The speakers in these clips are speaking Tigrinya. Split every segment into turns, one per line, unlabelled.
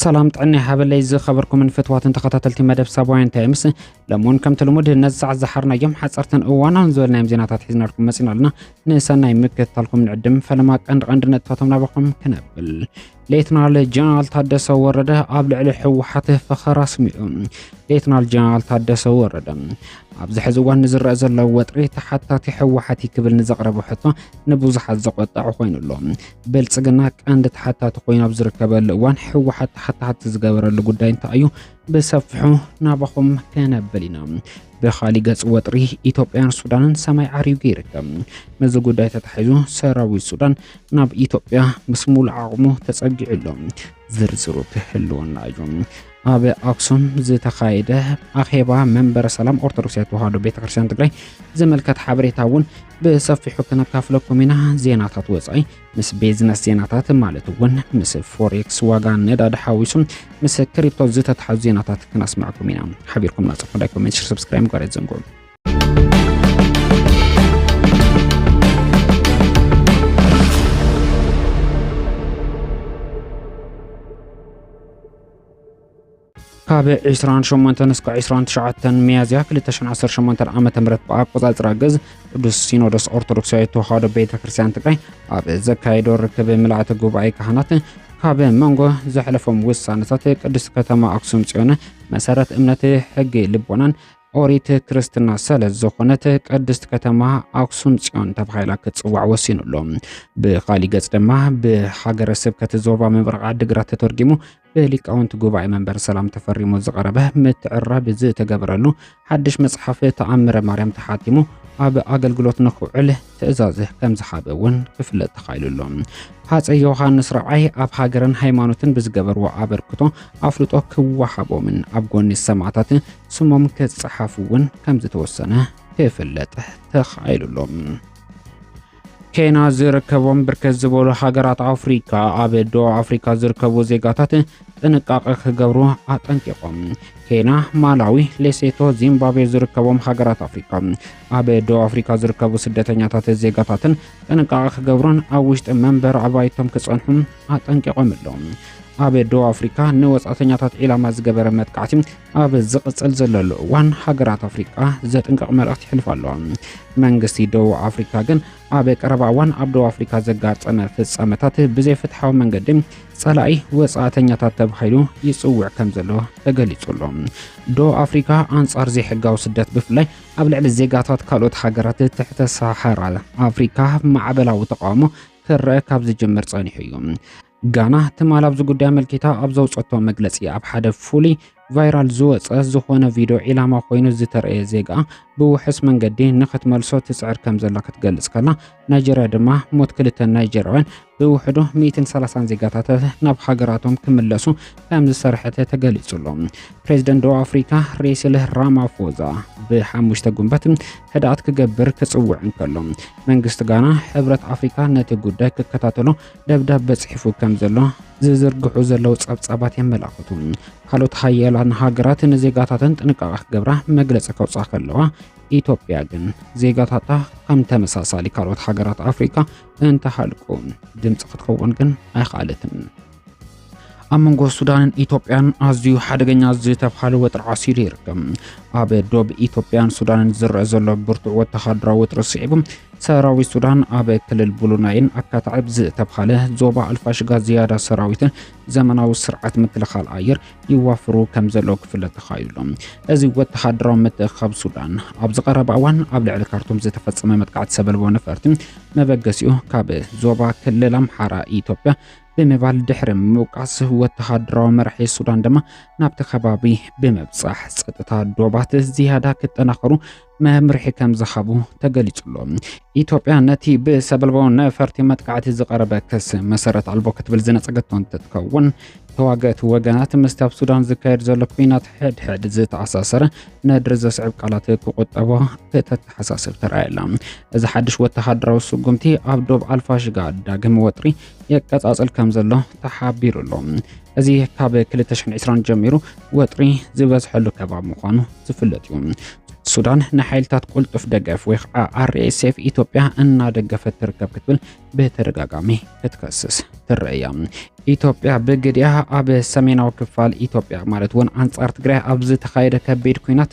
ሰላም ጥዕና ሃበለይ ዝኸበርኩምን ፍትዋትን ተኸታተልቲ መደብ ሳባውያን ታይምስ ለሞን ከምቲ ልሙድ ነዚ ሰዓት ዝሓርናዮም ሓፀርትን እዋናውን ዝበልናዮም ዜናታት ሒዝናልኩም መፂና ኣለና ንሰናይ ምክትታልኩም ንዕድም ፈለማ ቀንዲ ቀንዲ ነጥብታቶም ናባኹም ክነብል ሌትናል ጀነራል ታደሰ ወረደ ኣብ ልዕሊ ህወሓት ፈኸራ ኣስሚዑ። ሌትናል ጀነራል ታደሰ ወረደ ኣብዚ ሕዚ እዋን ንዝረአ ዘሎ ወጥሪ ተሓታቲ ህወሓት እዩ ክብል ንዘቕረበ ሕቶ ንብዙሓት ዘቆጠዐ ኮይኑ ኣሎ። ብልፅግና ቀንዲ ተሓታቲ ኮይኑ ኣብ ዝርከበሉ እዋን ህወሓት ተሓታቲ ዝገበረሉ ጉዳይ እንታይ እዩ? ብሰፊሑ ናባኹም ከነብል ኢና። ብኻሊእ ገፅ ወጥሪ ኢትዮጵያን ሱዳንን ሰማይ ዓሪጉ ይርከብ። ነዚ ጉዳይ ተታሒዙ ሰራዊት ሱዳን ናብ ኢትዮጵያ ምስ ሙሉእ ዓቕሙ ተፀጊዑ ኣሎ። ዝርዝሩ ክህልወና እዩ። ኣብ ኣክሱም ዝተኻየደ ኣኼባ መንበረ ሰላም ኦርቶዶክሳዊ ተዋህዶ ቤተክርስትያን ትግራይ ዘመልከት ሓበሬታ እውን ብሰፊሑ ክነካፍለኩም ኢና። ዜናታት ወፃኢ ምስ ቤዝነስ ዜናታት ማለት እውን ምስ ፎሬክስ ዋጋ ነዳዲ ሓዊሱ ምስ ክሪፕቶ ዝተተሓዙ ዜናታት ክነስምዐኩም ኢና ሓቢርኩም ናፀፍሑ ላይክ ኮሜንት ሽር ሰብስክራይብ ጋር ዘንጉዑ ካብ 28 እስከ 29 ሚያዝያ 2018 ዓ ም ብኣቆፃፅራ ግዝ ቅዱስ ሲኖዶስ ኦርቶዶክሳዊ ተዋህዶ ቤተ ክርስቲያን ትግራይ ኣብ ዘካየዶ ርክብ ምልኣተ ጉባኤ ካህናት ካብ መንጎ ዘሕለፎም ውሳነታት ቅድስት ከተማ ኣክሱም ፅዮን መሰረት እምነት ሕጊ ልቦናን ኦሪት ክርስትና ስለ ዝኾነት ቅድስት ከተማ ኣክሱም ፅዮን ተባሂላ ክትፅዋዕ ወሲኑ ኣሎ። ብኻሊእ ገፅ ድማ ብሃገረ ስብከት ዞባ ምብራቕ ዓዲግራት ተተርጊሙ ብሊቃውንቲ ጉባኤ መንበረ ሰላም ተፈሪሙ ዝቐረበ ምትዕራብ ዝተገበረሉ ሓድሽ መጽሓፍ ተኣምረ ማርያም ተሓቲሙ ኣብ ኣገልግሎት ንክውዕል ትእዛዝ ከም ዝሓበ እውን ክፍለጥ ተኻኢሉ ኣሎ ሃፀ ዮሃንስ ራብዓይ ኣብ ሃገርን ሃይማኖትን ብዝገበርዎ ኣበርክቶ ኣፍልጦ ክወሃቦምን ኣብ ጎኒ ሰማዕታት ስሞም ክፀሓፉ እውን ከም ዝተወሰነ ክፍለጥ ተኻኢሉ ኣሎ ኬና ዝርከቦም ብርከት ዝበሉ ሃገራት ኣፍሪካ ኣብ ደቡብ ኣፍሪካ ዝርከቡ ዜጋታት ጥንቃቐ ክገብሩ ኣጠንቂቖም። ኬና፣ ማላዊ፣ ሌሴቶ፣ ዚምባብዌ ዝርከቦም ሃገራት ኣፍሪካ ኣብ ደቡብ ኣፍሪካ ዝርከቡ ስደተኛታት ዜጋታትን ጥንቃቐ ክገብሩን ኣብ ውሽጢ መንበሪ ኣባይቶም ክፀንሑም ኣጠንቂቖም ኣለዉ። ኣብ ደቡብ ኣፍሪካ ንወፃእተኛታት ዒላማ ዝገበረ መጥቃዕቲ ኣብ ዝቕጽል ዘሎ ልእዋን ሃገራት ኣፍሪቃ ዘጥንቀቕ መልእኽቲ ይሕልፍ ኣሎ። መንግስቲ ደቡብ ኣፍሪካ ግን ኣብ ቀረባ እዋን ኣብ ደቡብ ኣፍሪካ ዘጋጠመ ፍጻመታት ብዘይፍትሓዊ መንገዲ ጸላኢ ወጻእተኛታት ተባሂሉ ይጽውዕ ከም ዘሎ ተገሊጹ ኣሎ። ደቡብ ኣፍሪካ ኣንጻር ዘይሕጋዊ ስደት ብፍላይ ኣብ ልዕሊ ዜጋታት ካልኦት ሃገራት ትሕተ ሳሃራ ኣፍሪካ ማዕበላዊ ተቃውሞ ክረአ ካብ ዝጅምር ጸኒሑ እዩ። ጋና ትማል ኣብዚ ጉዳይ ኣመልኪታ ኣብ ዘውፀቶ መግለፂ ኣብ ሓደ ፍሉይ ቫይራል ዝወፀ ዝኾነ ቪድዮ ዒላማ ኮይኑ ዝተረእየ ዜጋ ብውሕስ መንገዲ ንክትመልሶ ትፅዕር ከም ዘላ ክትገልፅ ከላ ናይጀርያ ድማ ሞት ክልተ ናይጀርያውያን ብውሕዱ 130 ዜጋታት ናብ ሃገራቶም ክምለሱ ከም ዝሰርሐተ ተገሊጹ ኣሎ። ፕሬዚደንት ደቡብ ኣፍሪካ ሬሲል ራማፎዛ ብሓሙሽተ ጉንበት ህድኣት ክገብር ክፅውዕ እንከሎ መንግስቲ ጋና ሕብረት ኣፍሪካ ነቲ ጉዳይ ክከታተሎ ደብዳበ ጽሒፉ ከም ዘሎ ዝዝርግሑ ዘለዉ ጸብጻባት የመላኽቱ። ካልኦት ሃያላን ሃገራት ንዜጋታተን ጥንቃቐ ክገብራ መግለጺ ከውጽኣ ከለዋ ኢትዮጵያ ግን ዜጋታታ ከም ተመሳሳሊ ካልኦት ሃገራት ኣፍሪካ እንተሃልቁ ድምፂ ክትኸውን ግን ኣይኸኣለትን። ኣብ መንጎ ሱዳንን ኢትዮጵያን ኣዝዩ ሓደገኛ ዝተብሃለ ወጥሪ ዓሲሉ ይርከብ ኣብ ዶብ ኢትዮጵያን ሱዳንን ዝረአ ዘሎ ብርቱዕ ወተሃደራዊ ወጥሪ ስዒቡ ሰራዊት ሱዳን ኣብ ክልል ቡሉናይን ኣካታዕብ ዝተብሃለ ዞባ ኣልፋሽጋ ዝያዳ ሰራዊትን ዘመናዊ ስርዓት ምክልኻል ኣየር ይዋፍሩ ከም ዘለዉ ክፍለጥ ተኻኢሉ እዚ ወተሃደራዊ ምትእኻብ ሱዳን ኣብዚ ቀረባ እዋን ኣብ ልዕሊ ካርቱም ዝተፈፀመ መጥቃዕቲ ሰበልቦ ነፈርቲ መበገሲኡ ካብ ዞባ ክልል ኣምሓራ ኢትዮጵያ ብምባል ድሕሪ ምውቃስ ወተሃደራዊ መራሒ ሱዳን ድማ ናብቲ ከባቢ ብምብጻሕ ጸጥታ ዶባት ዝያዳ ክጠናኸሩ መምርሒ ከም ዝሃቡ ተገሊጹሎ ኢትዮጵያ ነቲ ብሰበልባዊ ነፈርቲ መጥቃዕቲ ዝቐረበ ክስ መሰረት ኣልቦ ክትብል ዝነጸገቶ እንትትከውን ተዋገእቲ ወገናት ምስቲ ኣብ ሱዳን ዝካየድ ዘሎ ኩናት ሕድሕድ ዝተኣሳሰረ ነድሪ ዘስዕብ ቃላት ክቁጠቦ ከተተሓሳስብ ተራእየላ እዚ ሓድሽ ወተሃደራዊ ስጉምቲ ኣብ ዶብ ኣልፋሽጋ ዳግም ወጥሪ የቀጻጽል ከም ዘሎ ተሓቢሩ ኣሎ። እዚ ካብ 2020 ጀሚሩ ወጥሪ ዝበዝሐሉ ከባቢ ምዃኑ ዝፍለጥ እዩ። ሱዳን ንሓይልታት ቁልጡፍ ደገፍ ወይ ከዓ ኣርኤስኤፍ ኢትዮጵያ እናደገፈት ትርከብ ክትብል ብተደጋጋሚ ክትከስስ ትረአያ። ኢትዮጵያ ብግዲኣ ኣብ ሰሜናዊ ክፋል ኢትዮጵያ ማለት እውን ኣንጻር ትግራይ ኣብ ዝተኻየደ ከቢድ ኩናት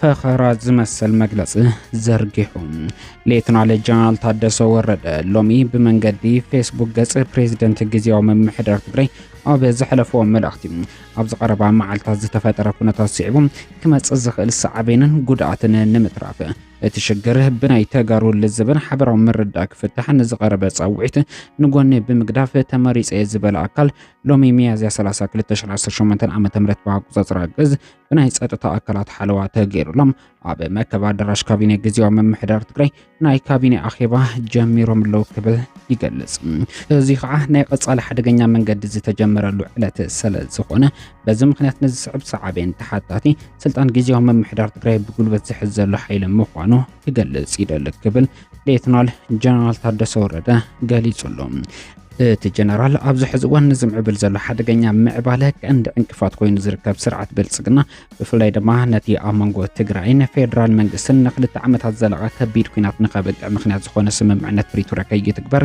ፈኸራ ዝመሰል መግለጺ ዘርጊሑ። ሌተናል ጀነራል ታደሰ ወረደ ሎሚ ብመንገዲ ፌስቡክ ገጽ ፕሬዚደንት ግዜያዊ ምምሕዳር ትግራይ ኣብ ዘሕለፍዎ መልእኽቲ ኣብ ዝቐረባ መዓልታት ዝተፈጠረ ኩነታት ስዒቡ ክመጽእ ዝኽእል ሳዕቤንን ጉድኣትን ንምትራፍ እቲ ሽግር ብናይ ተጋሩ ልዝብን ሓበራዊ ምርዳእ ክፍታሕ ንዝቐረበ ጻውዒት ንጎኒ ብምግዳፍ ተመሪጸ ዝበለ ኣካል ሎሚ ሚያዝያ 30 2018 ዓ ም ብኣቆጻጽራ ግዝ ብናይ ጸጥታ ኣካላት ሓለዋ ተገይሩሎም ኣብ መከብ ኣዳራሽ ካቢኔ ግዜያዊ ምምሕዳር ትግራይ ናይ ካቢኔ ኣኼባ ጀሚሮም ኣለዉ ክብል ይገልጽ። እዚ ከዓ ናይ ቀጻሊ ሓደገኛ መንገዲ ዝተጀመረሉ ዕለት ስለ ዝኾነ በዚ ምክንያት ንዝስዕብ ሰዓቤን ተሓታቲ ስልጣን ግዜያዊ ምምሕዳር ትግራይ ብጉልበት ዝሕዝ ዘሎ ሓይሊ ምዃኑ ክገልጽ ይደሊ ክብል ሌትናል ጀነራል ታደሰ ወረደ ገሊጹ ኣሎ። እቲ ጀነራል ኣብዚ ሕዚ እዋን ንዝምዕብል ዘሎ ሓደገኛ ምዕባለ ቀንዲ ዕንቅፋት ኮይኑ ዝርከብ ስርዓት ብልፅግና ብፍላይ ድማ ነቲ ኣብ መንጎ ትግራይን ፌዴራል መንግስትን ንክልተ ዓመታት ዘለቐ ከቢድ ኩናት ንከብቅዕ ምክንያት ዝኾነ ስምምዕነት ፕሪቶሪያ ከይትግበር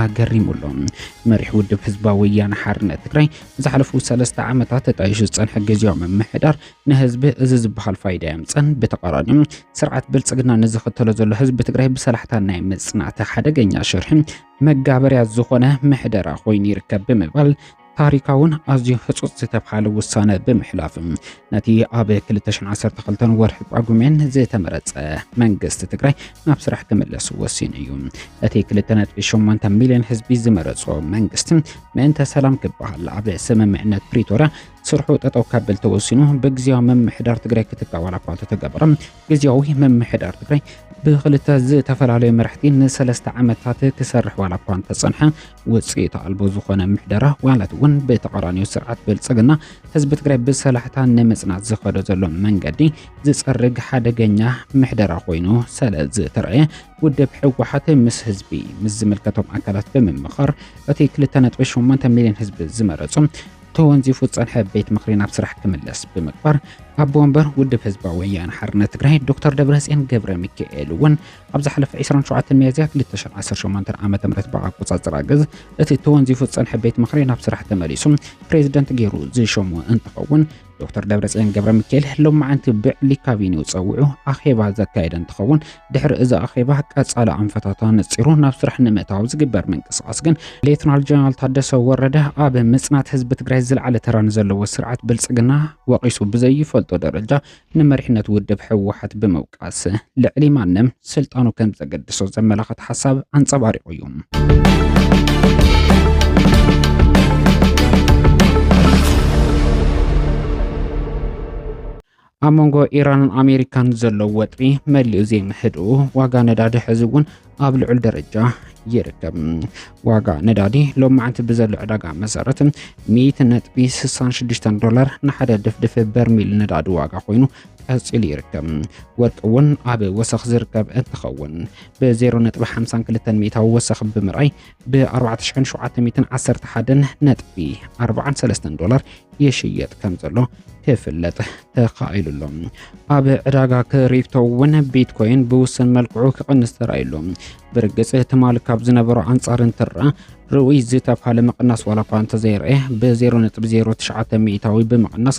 ኣገሪሙ ኣሎ። መሪሕ ውድብ ህዝባዊ ወያነ ሓርነት ትግራይ ንዝሓለፉ ሰለስተ ዓመታት ተጣይሹ ዝፀንሐ ግዝያዊ ምምሕዳር ንህዝቢ እዚ ዝበሃል ፋይዳ የምፀን፣ ብተቃራኒኡ ስርዓት ብልፅግና ንዝኽተሎ ዘሎ ህዝቢ ትግራይ ብሰላሕታ ናይ ምፅናት ሓደገኛ ሽርሒ መጋበርያ ዝኾነ ምሕደራ ኮይኑ ይርከብ ብምባል ታሪካውን ኣዝዩ ህጹጽ ዝተብሃለ ውሳነ ብምሕላፍ ነቲ ኣብ 2012 ወርሒ ጳጉሜን ዝተመረጸ መንግስቲ ትግራይ ናብ ስራሕ ክምለስ ወሲኑ እዩ። እቲ 2.8 ሚልዮን ህዝቢ ዝመረጾ መንግስቲ ምእንተ ሰላም ክበሃል ኣብ ስምምዕነት ፕሪቶርያ ስርሑ ጠጠው ከብል ተወሲኑ ብግዜያዊ ምምሕዳር ትግራይ ክትካእ ዋላ እኳ እንተተገበረ ግዜያዊ ምምሕዳር ትግራይ ብክልተ ዝተፈላለዩ መራሕቲ ንሰለስተ ዓመታት ክሰርሕ ዋላ እኳ እንተጸንሐ ውፅኢት ኣልቦ ዝኾነ ምሕደራ ዋላት እውን ብተቃራኒዮ ስርዓት ብልፅግና ህዝቢ ትግራይ ብሰላሕታ ንምፅናት ዝኸዶ ዘሎ መንገዲ ዝፀርግ ሓደገኛ ምሕደራ ኮይኑ ሰለ ዝተረኣየ ውድብ ህወሓት ምስ ህዝቢ ምስ ዝምልከቶም ኣካላት ብምምኻር እቲ 2.8 ሚሊዮን ህዝቢ ዝመረፁ ተወንዚፉ ዝፀንሐ ቤት ምክሪ ናብ ስራሕ ክምለስ ብምግባር ኣቦ ወንበር ውድብ ህዝባዊ ወያነ ሓርነት ትግራይ ዶክተር ደብረፅዮን ገብረ ሚካኤል እውን ኣብ ዝሓለፈ ዕስራን ሸውዓተን ሚያዝያ ክልተ ሽሕን ዓሰርተ ሸሞንተን ዓመተ ምህረት ብኣቆጻጽራ ግዝ እቲ ተወንዚፉ ዝጸንሐ ቤት ምኽሪ ናብ ስራሕ ተመሊሱ ፕሬዝደንት ገይሩ ዝሸሞ እንትኸውን ዶክተር ደብረጽዮን ገብረ ሚካኤል ሎማዓንቲ ብዕሊ ካቢኔኡ ጸዊዑ ኣኼባ ዘካየደ እንትኸውን ድሕሪ እዚ ኣኼባ ቀጻሊ ኣንፈታት ኣነጺሩ ናብ ስራሕ ንምእታው ዝግበር ምንቅስቓስ ግን ሌትናል ጀነራል ታደሰ ወረደ ኣብ ምጽናት ህዝቢ ትግራይ ዝለዓለ ተራ ንዘለዎ ስርዓት ብልጽግና ወቒሱ ብዘይፈልጦ ደረጃ ንመሪሕነት ውድብ ህወሓት ብምውቃስ ልዕሊ ማንም ስልጣኑ ከም ዘገድሶ ዘመላኽት ሓሳብ ኣንፀባሪቑ እዩ። ኣብ መንጎ ኢራንን ኣሜሪካን ዘሎ ወጥሪ መሊኡ ዘይምህድኡ፣ ዋጋ ነዳዲ ሕዚ እውን ኣብ ልዑል ደረጃ ይርከብ። ዋጋ ነዳዲ ሎም መዓንቲ ብዘሎ ዕዳጋ መሰረት 100.66 ዶላር ንሓደ ድፍድፍ በርሚል ነዳዲ ዋጋ ኮይኑ ቀፂሉ ይርከብ። ወርቂ እውን ኣብ ወሰኽ ዝርከብ እንትኸውን ብ0.52 ሚእታዊ ወሰኽ ብምርኣይ ብ4711.43 ዶላር ይሽየጥ ከም ዘሎ ክፍለጥ ተኻኢሉ ኣሎ። ኣብ ዕዳጋ ክሪፕቶ እውን ቢትኮይን ብውስን መልክዑ ክቕንስ ተራእዩ ኣሎ። ብርግጽ ትማሊ ካብ ዝነበሮ ኣንጻር እንትርኣ ርኡይ ዝተብሃለ ምቕናስ ዋላ እኳ እንተዘይርኤ ብ0.09 ሚእታዊ ብምቕናስ